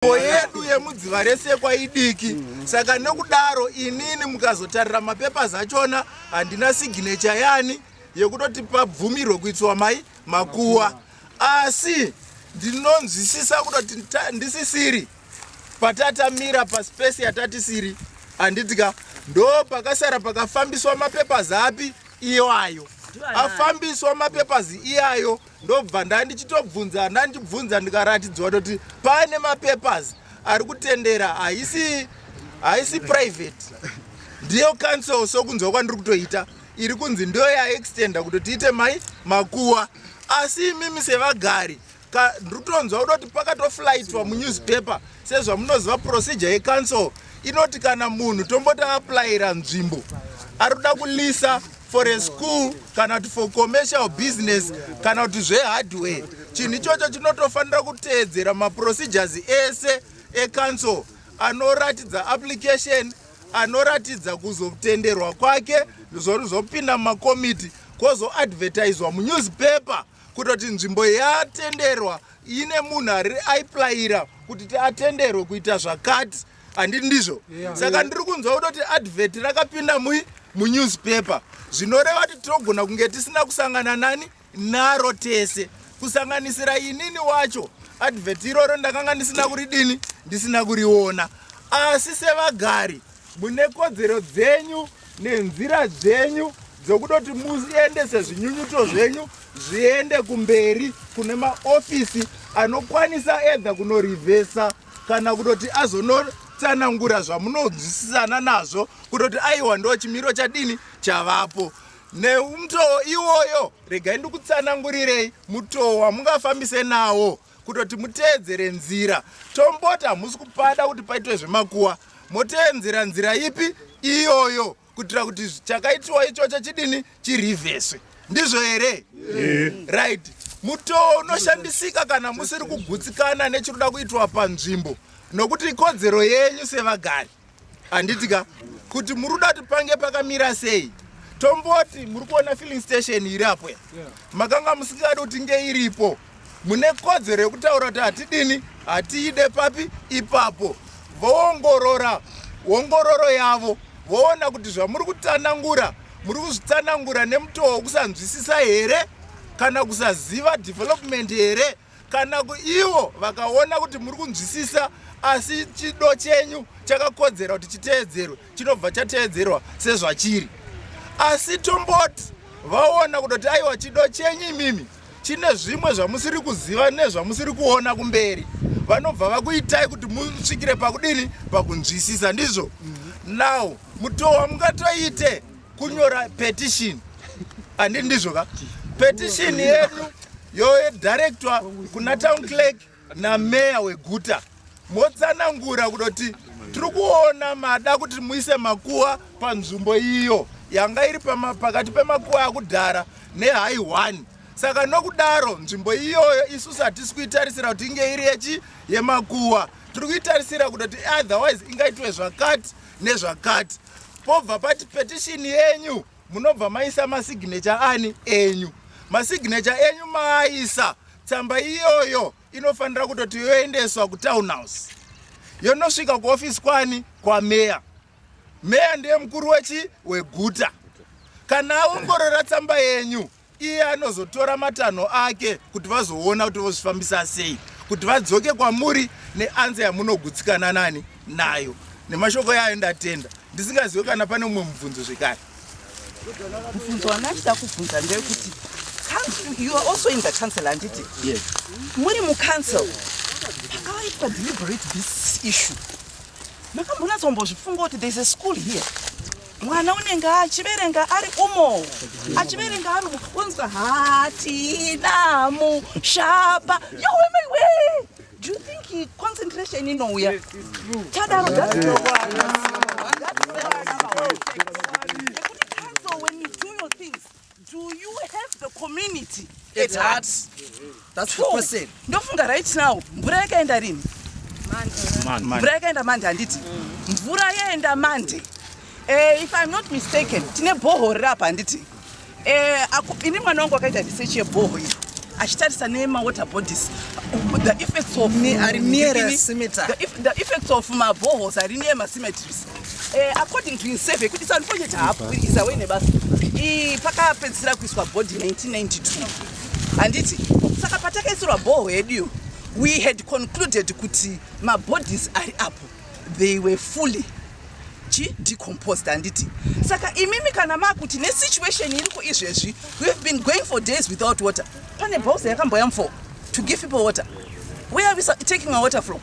nzvimbo yedu yemudziva rese kwaidiki saka nokudaro inini mukazotarira mapepa zachona handina signature yani yekutoti pabvumirwe kuitsiwa mai makuwa asi ndinonzwisisa kutoti ndisisiri patatamira paspesi yatatisiri handiti ka ndo pakasara pakafambiswa mapepa zapi iwayo afambiswa mapepazi iyayo ndobva ndandichitobvunza ndandichibvunza ndikaratidzwa toti pane mapapers ari kutendera haisi haisi private ndiyo council sokunzwa kwandiri kutoita iri kunzi ndiyo yaextenda kuti tiite mai makuwa asi imimi sevagari ndritonzwa kutoti pakatoflaitwa munewspaper sezvamunoziva procedure yecouncil inoti kana munhu tomboti aaplayira nzvimbo ari kuda kulisa for a school kana kuti for commercial business kana kuti zvehardware chinhu ichocho chinotofanira kuteedzera maprocedures ese ecouncil anoratidza application anoratidza kuzotenderwa kwake zvozopinda mumakomiti kwozoadvertiswa munewspaper kutoti nzvimbo yatenderwa ine munhu ari aiplayira kuti atenderwe kuita zvakati handiti ndizvo yeah. saka ndiri kunzwa kutoti advert rakapinda mui munewspaper zvinoreva kuti tinogona kunge tisina kusangana nani naro tese kusanganisira inini wacho advert iroro ndakanga ndisina kuridini ndisina kuriona asi sevagari mune kodzero dzenyu nenzira dzenyu dzokutoti muendese zvinyunyuto zvenyu zviende kumberi kune maofisi anokwanisa edha kunorivhesa kana kutoti azonotsanangura zvamunonzwisisana nazvo kutoti aiwa ndo chimiro chadini chavapo neumutoo iwoyo regai ndikutsanangurirei mutoo wamungafambise nawo kutoti muteedzere nzira tomboti hamusi kupada kuti paitwe zvemakuwa moteenzera nzira ipi iyoyo kuitira kuti chakaitiwa ichocho chidini chirivheswe ndizvo here yeah. right mutoo unoshandisika kana musiri kugutsikana nechiri kuda kuitwa panzvimbo nokuti ikodzero yenyu sevagari handitika kuti muri kuda kuti pange pakamira sei tomboti muri kuona filling station iri apo ya makanga musingadi kuti nge iripo mune kodzero yekutaura kuti hatidini hatiide papi ipapo voongorora ongororo yavo voona kuti zvamuri kutsanangura muri kuzvitsanangura nemutoo wekusanzwisisa here kana kusaziva development here kana ivo vakaona kuti muri kunzwisisa asi chido chenyu chakakodzera kuti chiteedzerwe chinobva chateedzerwa sezvachiri asi tomboti vaona kutoti aiwa chido chenyu imimi chine zvimwe zvamusiri kuziva nezvamusiri kuona kumberi vanobva vakuitai kuti musvikire pakudini pakunzwisisa ndizvo mhm. now mutoo wamungatoite kunyora petition andi ndizvo ka petition yedu yoedirectwa kuna town clerk nameya weguta motsanangura kudoti tiri kuona mada kuti muise makuwa panzvimbo iyo yanga iri pakati pemakuwa akudhara nehai one saka nokudaro nzvimbo iyoyo isu satisi kuitarisira kuti inge iri yechi yemakuwa tiri kuitarisira kutoti otherwise ingaitwe zvakati nezvakati pobva pati petishini yenyu munobva maisa masignature ani enyu masignature enyu maaisa tsamba iyoyo inofanira kutoti yoendeswa kutown house yonosvika kuofisi kwani kwameya meya ndiye mukuru wechi weguta kana aongorora tsamba yenyu iye anozotora matanho ake kuti vazoona kuti vozvifambisa sei kuti vadzoke kwamuri neanza yamunogutsikana nani nayo nemashoko yayo ndatenda ndisingazive kana pane mumwe mubvunzo zvekare mubvunzo wandachida kubvunza ndeyekuti you are also in the council handiti yes. muri mucouncil pakawaitwa deliberate this issue makambonatsombozvifunga kuti there's a school here mwana unenge achiverenga ari umo achiverenga ari umo unzwa hatina mushapa yowemewe do you think concentration inouya tadaro Do you have the community at heart? That's the question. Ndofunga right now mvura yakaenda rini? Mvura yakaenda mande handiti? Mvura yaenda mande. Eh, if I'm not mistaken, tine bhoho riri apa handiti? Eh, ini mwana wangu akaita research yebhoho iri achitarisa nemawater bodies the effects of the effects of mabohos ari near macemeteries Eh, according to insurvey kuti sanfonye chahapu iza wene basa ii pakapedzisira kuiswa body 1992 handiti saka patakaisirwa bhoho heduyo we had concluded kuti mabodies ari apo they were fully chi decomposed handiti saka imimi kana makuti nesituation iriko izvezvi weave been going for days without water pane bhausa yakamboya mfoo to give people water where are we taking our water from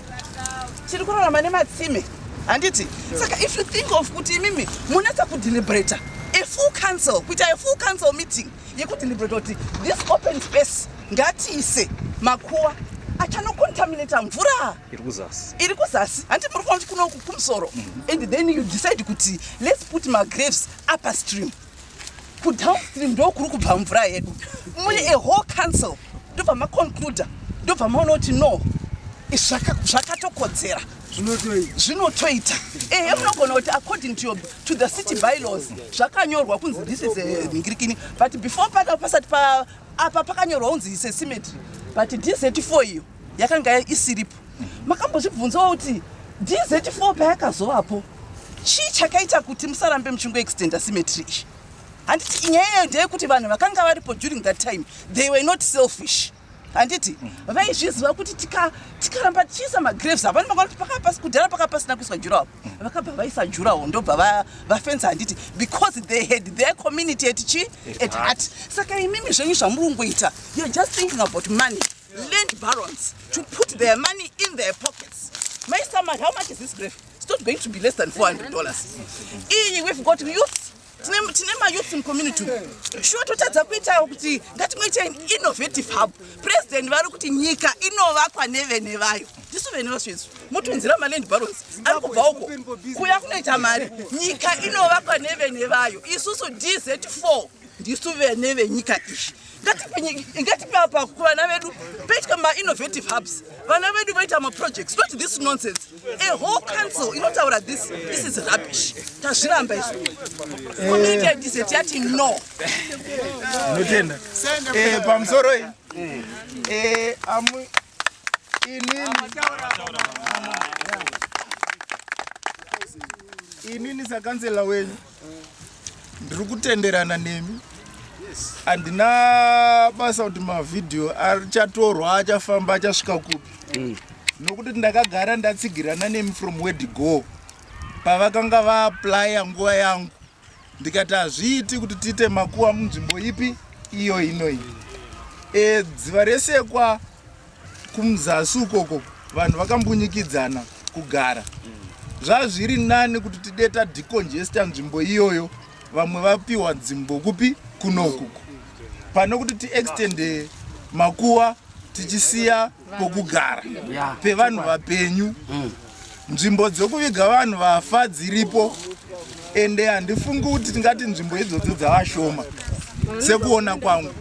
tiri kurarama nematsime handiti saka if you think of kuti imimi munatsa kudeliberata a full council kuita a full council meeting yekudeliberata kuti this open space ngatiise makuwa achanocontaminata mvura iri kuzasi handi muri kuona kuti kuno kumusoro mm-hmm. and then you decide kuti let's put magraves upper stream kudownstream ndo kuri kubva mvura yedu mune a whole council ndobva maconcluda ndobva maona kuti no zvakatokodzera zvinotoita ehe munogona kuti according to, your, to the city bylaws zvakanyorwa kunzi this is eh, ngirikini but before pada pasati apa pakanyorwa kunzi sesimetry but dz4 iyo yakanga isiripo makambozvibvunzawo kuti dz4 payakazovapo chii chakaita kuti musarambe muchingoextenda simetry iyi handiti inyaya iyoyo ndeyekuti vanhu vakanga varipo during that time they were not selfish handiti vaizviziva kuti tikaramba tichiisa magraves avo vanomaona kuti pakava pasi kudhara pakava pasina kuiswa jurawo vakabva vaisa jurawo ndobva vafensa handiti because they had their community at chi at heart saka imimi zvenyu zvamuri kungoita you're just thinking about money land barons to put their money in their pockets my summary how much is this grave it's not going to be less than 400 dollars iyi we've got youth tine mayouth mucommunity shuwa totadza kuitawo kuti ngatimweita in innovative hub president vari kuti nyika inovakwa nevene vayo tisu vene vasvezvo motonzira maland barons ari kubva uko kuya kunoita mari nyika inovakwa nevene vayo isusu dz4 ndisu vene venyika izvi ngatipe apa kuvana vedu peitwa mainnovative hubs vana vedu vaita maprojects not this nonsense a whole council inotaura this this is rubbish tazviramba izvo community idizet yati no notenda eh, pamusoro iyi eh, inini sakanzela wenyu ndiri kutenderana nemi handina basa kuti mavhidhiyo achatorwa achafamba achasvika kupi mm. nokuti ndakagara ndatsigirana nemi from word go pavakanga vaaplya nguva yangu ndikati hazviiti kuti tiite makuwa munzvimbo ipi iyo inoi e, dziva resekwa kumzasi ukoko vanhu vakambunyikidzana kugara zvazviri nani kuti tide tadicongesta nzvimbo iyoyo vamwe vapiwa dzimbo kupi kunokuku pane kuti tiextende makuwa tichisiya kokugara pevanhu vapenyu mm. nzvimbo dzokuviga vanhu vafa dziripo ende handifungi kuti tingati nzvimbo idzodzo dzavashoma sekuona kwangu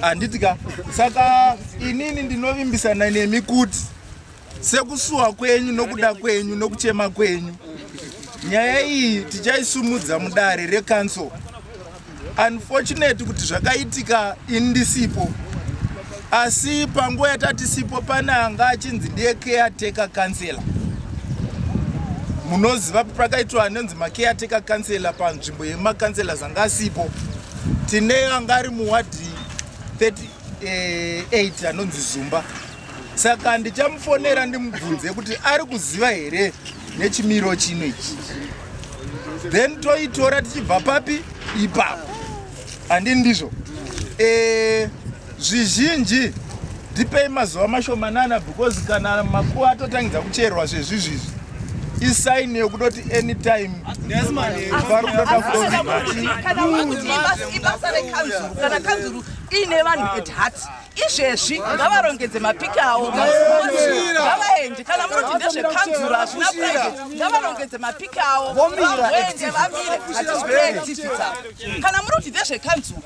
handiti ka saka inini ndinovimbisana nemi kuti sekusuwa kwenyu nokuda kwenyu nokuchema kwenyu nyaya iyi tichaisumudza mudare rekanso Unfortunate kuti zvakaitika ini ndisipo asi panguva yatatisipo pane anga achinzi ndiye caretaker councilor munoziva pakaitwa anonzi macaretaker councilor panzvimbo yemacouncelors anga asipo tine anga ari muwadhi 38 eh, anonzi zumba saka ndichamufonera ndimubvunze kuti ari kuziva here nechimiro chino ichi then toitora tichibva papi ipapo handini ndizvo eh, zvizhinji ndipei mazuva mashomanana because kana makuva atotangidza kucherwa zvezvizvizvi isaini yokutoti anytime vari kutoda kuoibasa rekanzuru kana kanzuru iine vanhu at heart izvezvi ngavarongedze mapiki awo ngavaende kana munoti ndezvekanzuro hazvina private ngavarongedze mapiki awo vaende vamire hatizikureactivita kana munoti ndezvekanzuro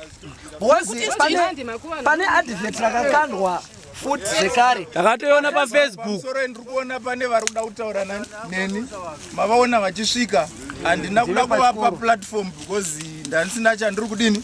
pane advert rakakandwa futi zvekare takatoiona pafacebook soro ndiri kuona pane vari kuda kutaura neni mavaona vachisvika handina kuda kuvapa platform because ndandisina chandiri kudini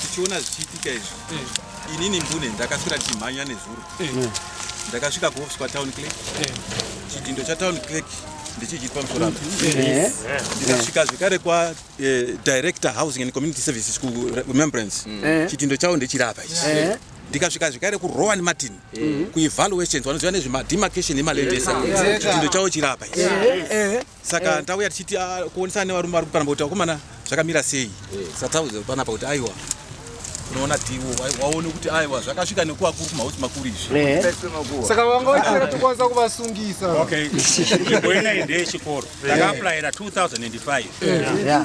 tichiona zvichiitika izvi inini mbune ndakasvira ndichimhanya nezuro ndakasvika kuofisi kwatown clerk chidindo chatown clerk ndichichiitwa musorano ndikasvika zvekare kwadirector eh, housing and community services kuremembrance eh. chitindo chavo ndechirapa ichi eh. ndikasvika zvekare kurowan martin mm. kuevaluations vanoziva nezvemademarcation emalandesa chindo chavo chirapa saka eh. ndauya tichiti ah, kuonesana nevarume vari kupanamba kuti vakomana zvakamira sei eh. satauza panapa kuti aiwa unoona diwo waone kuti aiwa zvakasvika nekuva kuri kumauti makuru izvi eh. saka vanga vachiera tikwanisa kuvasungisa okay imbo inai ndeyechikoro takaaplayira 2005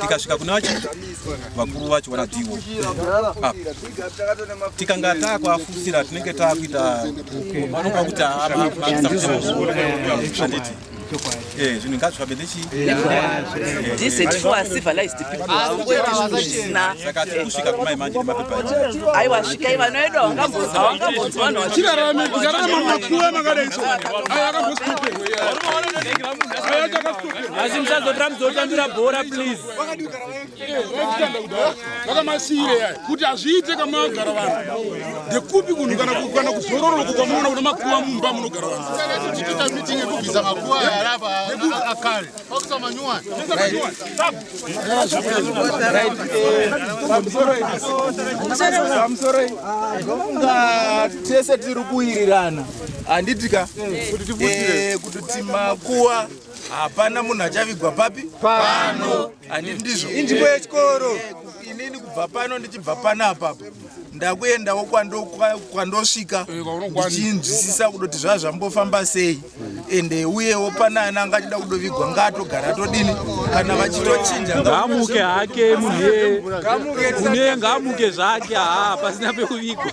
tikasvika kune vacho vakuru vacho vanatiwo ah. tikanga taakuafusira tinenge taakuita vanoka kuti aanditi eh, zvinhu ngazvifambe ndechsaka tikusvika kumai manje nemapepaaiwa svikai vana vedu hawangambozivanhachirarame tikararama makuva makadaiso asi musazotora muzotambira bhora please zvakamasiyire yaya kuti hazviite kamagara vanhu ndekupi kunhu kana kuzororoko kwamunoona kuna makuva mumba munogara vanhumusoro tese tiri kuwirirana handiti ka eh, kuti timakuwa hapana munhu achavigwa papi pano handiti ndizvo inzvimbo yechikoro inini kubva pano ndichibva pano apapo ndakuendawo kwandosvika ndichinzwisisa kudoti zvaa zvambofamba sei ende uyewo pana ana anga achida kudovigwa ngaatogara todini kana vachitochinja ngaamuke hake munhuye munhuye ngaamuke zvake haa pasina pekuvigwa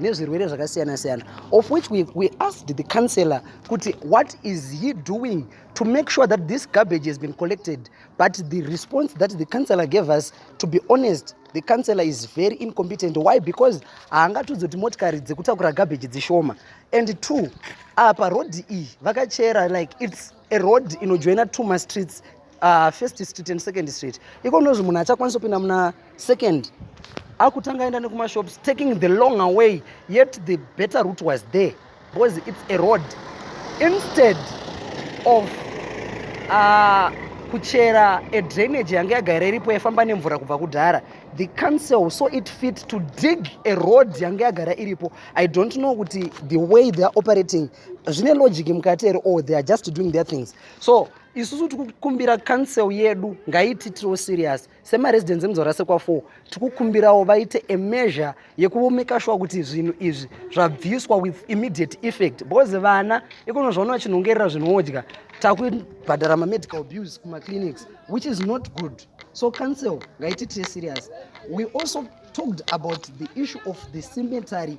nezvirwere zvakasiyana siyana of which we, we asked the councillor kuti what is he doing to make sure that this garbage has been collected but the response that the councillor gave us to be honest the councillor is very incompetent why because haangatudzi kuti motikari dzekutakura garbage dzishoma and two apa rodhi iyi vakachera like its a road inojoina two mastreets uh, first street and second street iko unozvi munhu achakwanisa kupinda muna second akutanga aenda nekumashops taking the long away yet the better route was there because it's a road instead of uh, kuchera a drainage yange yagara iripo yaifamba nemvura kubva kudhara the council so it fit to dig a road yange yagara iripo i don't know kuti the way they are operating zvine logic mukati ere or they are just doing their things so isusu tikukumbira council yedu ngaititirewo serious semaresidents emuzvarasekwa 4 tikukumbirawo vaite a measure yekuvomeka shuwa kuti zvinhu izvi zvabviswa with immediate effect because vana ikono zvaona vachinhongerera zvinodya takubhadhara mamedical bills kumaclinics which is not good so council ngaititire serious we also talked about the issue of the cemetery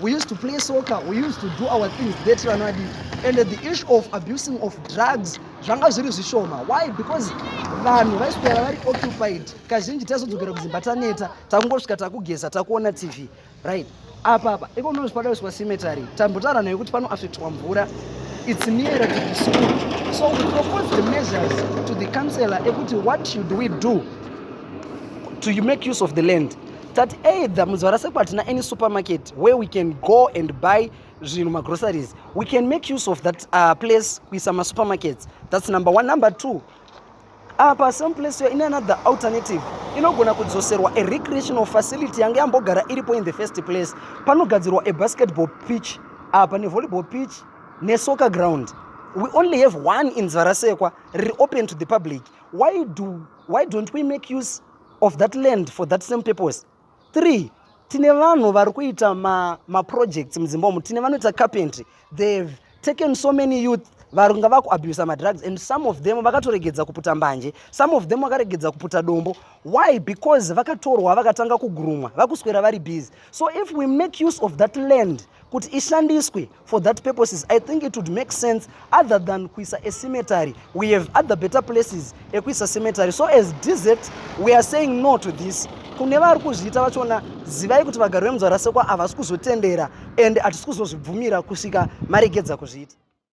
We used to play soccer, we used to do our things that Ranadi. And the issue of abusing of drugs, zvanga zviri zvishoma. Why? Because vanhu vaiswera vari occupied. Kazhinji taizodzokera kudzimba taneta, takungosvika takugeza, takuona TV. Right? Apa apa, iko ndozvo pada kuswa cemetery. Tambotaura nayo kuti pano affectwa mvura. It's near to the school. So we propose the measures to the councillor ekuti what should we do to make use of the land. tati either mudzvara seko hatina any supermarket where we can go and buy zvinhu magroceries we can make use of that uh, place kuisa masupermarkets thats number one number two apa uh, some place yo ine another alternative inogona kudzoserwa a recreational facility yange yambogara iripo in the first place panogadzirwa a basketball pitch apa uh, nevolleyball pitch nesoccer ground we only have one in zvarasekwa riri open to the public why, do, why don't we make use of that land for that same purpose three tine vanhu vari kuita maprojects ma mudzimba umu tine vanoita carpentry they've taken so many youth varunga vakuabusa madrugs and some of them vakatoregedza kuputa mbanje some of them vakaregedza kuputa dombo why because vakatorwa vakatanga kugurumwa vakuswera vari busy so if we make use of that land kuti ishandiswe for that purposes i think it would make sense other than kuisa a cemetery we have other better places ekuisa cemetery so as dz we are saying no to this kune vari kuzviita vachona zivai kuti vagari vemunzvarasekwa havasi kuzotendera and hatisi kuzozvibvumira kusvika maregedza kuzviita